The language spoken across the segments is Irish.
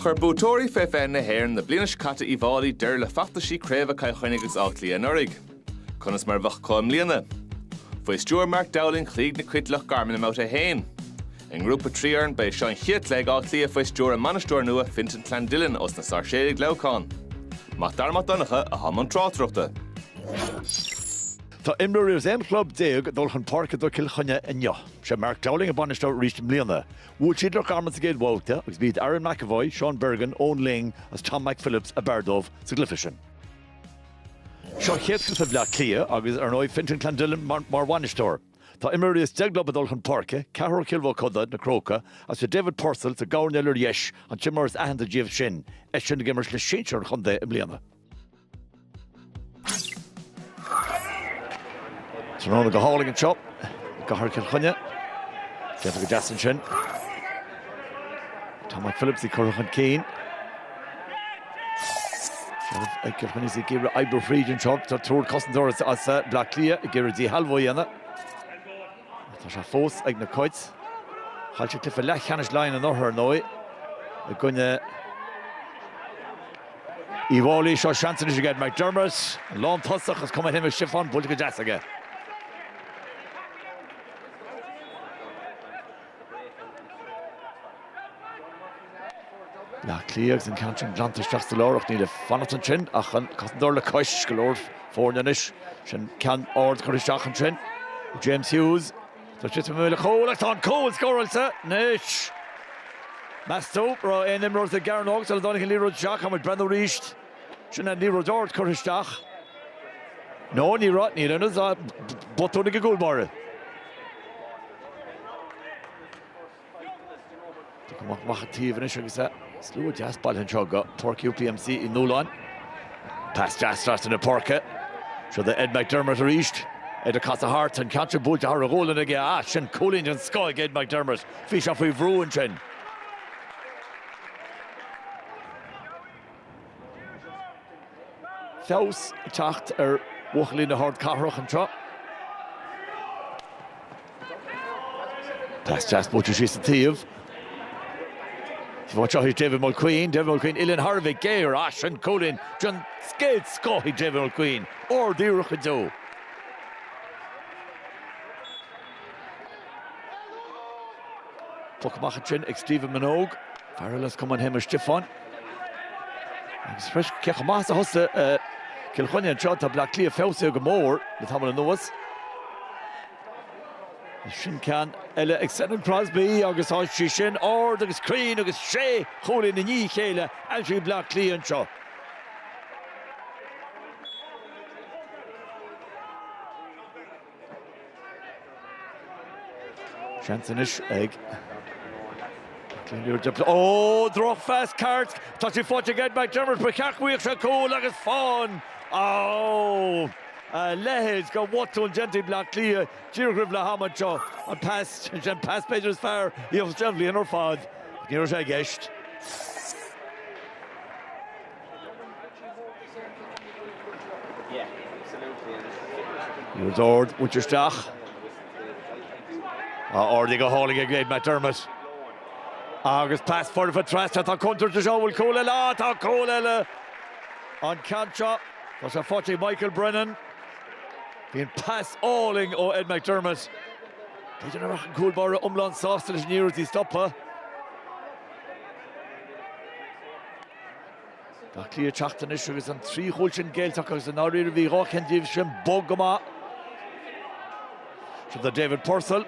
Chuir buaiteoirí Fé 20 na hÉireann na bliana seo caite Uíbh Fhailí deireadh le feachtaisí craobha Cill Chainnigh agus Átha Cliath anuraidh. Conas mar a bheadh acu i mbliana? Faoi stiúir Mark Dowling chloígh na Cait Loch Garman i mbabhta a haon. I ngrúpa 3 fhoireann ba é seo an chéad cluiche ag Áth Cliath faoi stiúir a mbainisteora nua Fintan Clandillon ós na Sáirséalaigh Leamhcán. Mac Dara Mac Donncha atá i mbun tráchtaireachta. Tá imreoirí as 11 club ag dul chun páirce do Chill Chainnigh inniu. Sé Mark Dowling an bainisteoir arís i mbliana. Bhuail siad Loch Garman sa gcéad bhabhta agus b'iad Aaron McEvoy, Sean Bergin, Eoghan Lyng agus Tom McPhillips ab fhearr dóibh sa gcluiche sin. Seo an chéad chluiche ag Bleá Cliath agus, ar ndóigh, Fintan Clandillon mar bhainisteoir. Tá imreoirí as deich gclub ag dul chun páirce, ceathrar ó Chill Mochuda na Crócaigh, agus sé David Purcell sa gcoirnéal ar dheis, an t-imreoir is aitheanta díobh sin, eisean ag imirt le sinsir an chontae i mbliana. Tráthnóna go hálainn anseo i gcathair Chill Chainnigh. Déanta go deas ansin. Tom McPhillips ag cur chun cinn. Ag Cill Chainnigh ag iarraidh oibriú fríd anseo. Tá triúr cosantóir as Bleá Cliath ag iarraidh díshealbhú a dhéanamh. Tá sé fós ag na Cait. Chaill sé cluiche leathcheannais Laighean anuraidh ar ndóigh i gcoinne Uíbh Fhailí, Seo seans anois ag Ed McDermott, an lán tosach as Cumann Shéamais Stiofáin, buailte go deas aige. Bleá Cliath agus an ceann sin glanta isteach sa lár ach níl ag fanacht ansin ach an cosantóir le cois. Go leor foirne anois. Sin ceann ard curtha isteach ansin ag James Hughes. Tá sé istigh i mbéal an chúil ach tá an cúl scóráilte anois. Meas tú an raibh aon imreoir sa gcearnóg sula dtáinig an liathróid isteach? Tá muid ag breathnú arís. Sin an liathróid ard curtha isteach. No, ní raibh, níl ann ach botún ag an gcúl báire. Curtha amach ar an taobh anois agus slua deas bailithe anseo go Páirc UPMC Uí Nualláin. Pas deas trasna na páirce. Seo do Ed McDermott arís. Ed ag casadh thart, an ceann sin buailte thar a ghualainn aige. Á, sin cúilín den scoth ag Ed McDermott. Bhí sé faoi bhrú ansin. Feabhas ag teacht ar bhuachaillí na hardcathrach anseo. Pas deas buailte síos sa taobh. Bhain seo thíos David Mulqueen, David Mulqueen uilleann thar a bheith géar, á, sin cúilín den gcéad scoth ag David Mulqueen, ard-iarracht go deo. Poc amach ansin ag Stephen Manogue. Fear eile as Cumann Shéamuis Stiofáin. Agus th'éis cé chomh maith is a thosaigh Cill Chainnigh anseo tá Bleá Cliath feabhsaithe go mór le tamall anuas. Sin ceann eile ag Senan Crosbie agus tá sí sin ard agus cruinn agus sé chúilín i ndiaidh a chéile aimsithe ag Bleá Cliath anseo. Seans anois ag Glenure Dempsey. Ó, drochphas ceart! Tá sé faighte ag Ed McDermott, ba cheart go bhfaigheadh sé cúl agus faigheann! Á! A leithéid de bhotún déanta ag Bleá Cliath díreach roimh leath ama anseo. An pas, sin an pas b'fhéidir is fearr a gheobhas sé an bhliain ar fad. Ach ní raibh sé i gceist. Arís ard, buailte isteach. Ardaithe go hálainn ag Ed McDermott. Agus pas foirfe trasna, tá contúirt anseo, an bhfuil cúl eile ann? Tá cúl eile! An ceann seo, tá sé faighte ag Michael Brennan. B'in pas álainn ó Ed McDermott. B'fhéidir nach mbeadh an cúl báire iomlán sásta leis an iarracht í a stopadh. Bleá Cliath ag teacht anois agus an trí chúl sin géillte acu agus i ndáiríre bhí dhá cheann díobh sin bog go maith. Seo do David Purcell.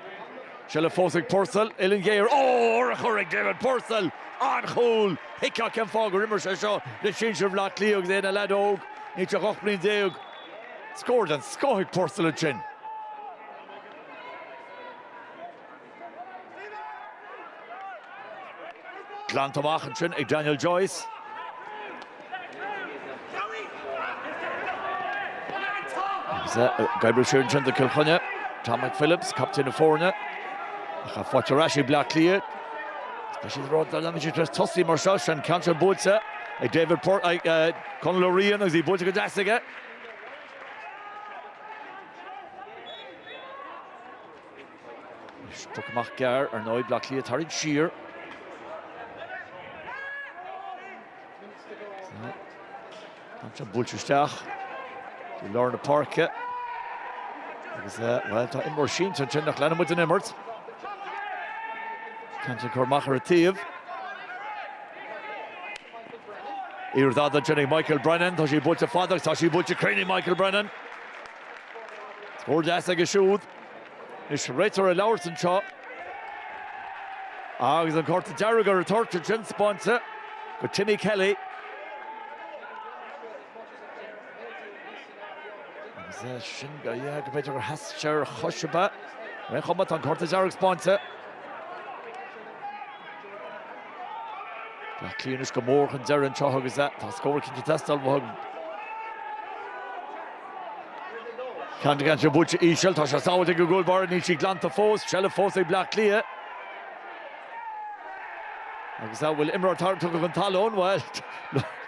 Seilbh fós ag Purcell. Uillinn ghéar. Ó, urchar ag David Purcell! An-chúl! Thuigfeá cén fáth gur imir sé seo le sinsir Bhaile Átha Cliath agus é ina leaid óg, díreach 18 bliain. Scór den scoth ag Purcell ansin. Glanta amach ansin ag Daniel Joyce. Agus é ag oibriú siar ansin do Cill Chainnigh, Tom McPhillips, captaen na foirne. Ach í faighte ar ais ag Bleá Cliath. Tá siad rud le leanfaidh siad tras tosaí mar seo an ceann sin buaite ag David Port ag eh, Conall Ó Riain agus í buaite go deas aige. Poc amach gearr, ar ndóigh, Bleá Cliath tarraingthe siar. Ansin buailte isteach i lár na páirce. Agus bhuel tá imreoir sínte ansin ach leanann muid an imirt. Ceann seo curtha amach ar an taobh. Iarracht á déanamh ag Michael Brennan, tá sí buailte fada agus tá sí buailte cruinn ag Michael Brennan. Scór deas aige siúd. Nois réiteoir ag labhairt anseo agus an cárta dearg ar an toirt ansin spáinte do Timmy Kelly. Agus é sin go mb'fhéidir gur sheas sé ar chois ar bith. Ar aon chuma, tá an cárta dearg spáinte. Tá cliathánaí go mór chun deireadh anseo agus é tá scór cinnte teastáil uathu. Candlegan sé buailte íseal, tá sé sábhailte ag an gcúl báire, níl sí glanta fós, seilbh fós ag Bleá Cliath. Agus a' bhfuil imreoir tarraingthe go chun talún? Bhuel,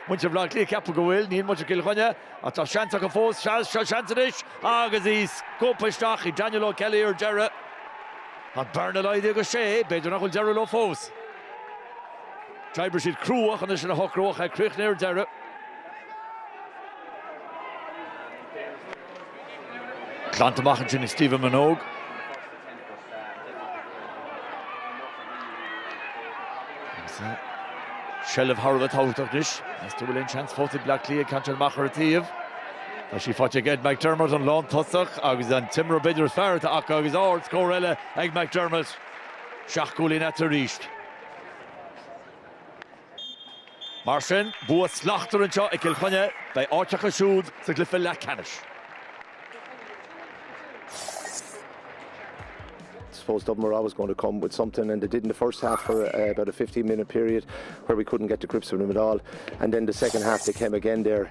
muintir Bhleá Cliath ceapadh go bhfuil, níl muintir Chill Chainnigh ach tá seans acu fós, seans, seo seans anois agus í scuabtha isteach ag Daniel O'Kelly ar deireadh. An bhearna laghdaithe go sé, b'fhéidir nach bhfuil deireadh leo fós. D'oibrigh siad crua ansin é sin a shocrú ach é críochnaithe ar deireadh. Claonta amach ansin ag Stephen Minogue. Seilbh thar a bheith tábhachtach anois. Meas tú bhfuil aon seans fós ag Bleá Cliath? Ceann fada amach ar an taobh? Tá sí faighte ag Ed McDermott, an lántosach agus an t-imreoir b'fhéidir is fearr atá acu agus ard scór eile ag McDermott. Seacht gcúilín ann arís. Mar sin, bua slachtmhar anseo ag Cill Chainnigh. Beidh áit acu siúd sa gcluiche leathcheannais. I suppose Dublin were always going to come with something and they did in the first half for uh, about a 15 minute period where we couldn't get to grips with them at all and then the second half they came again there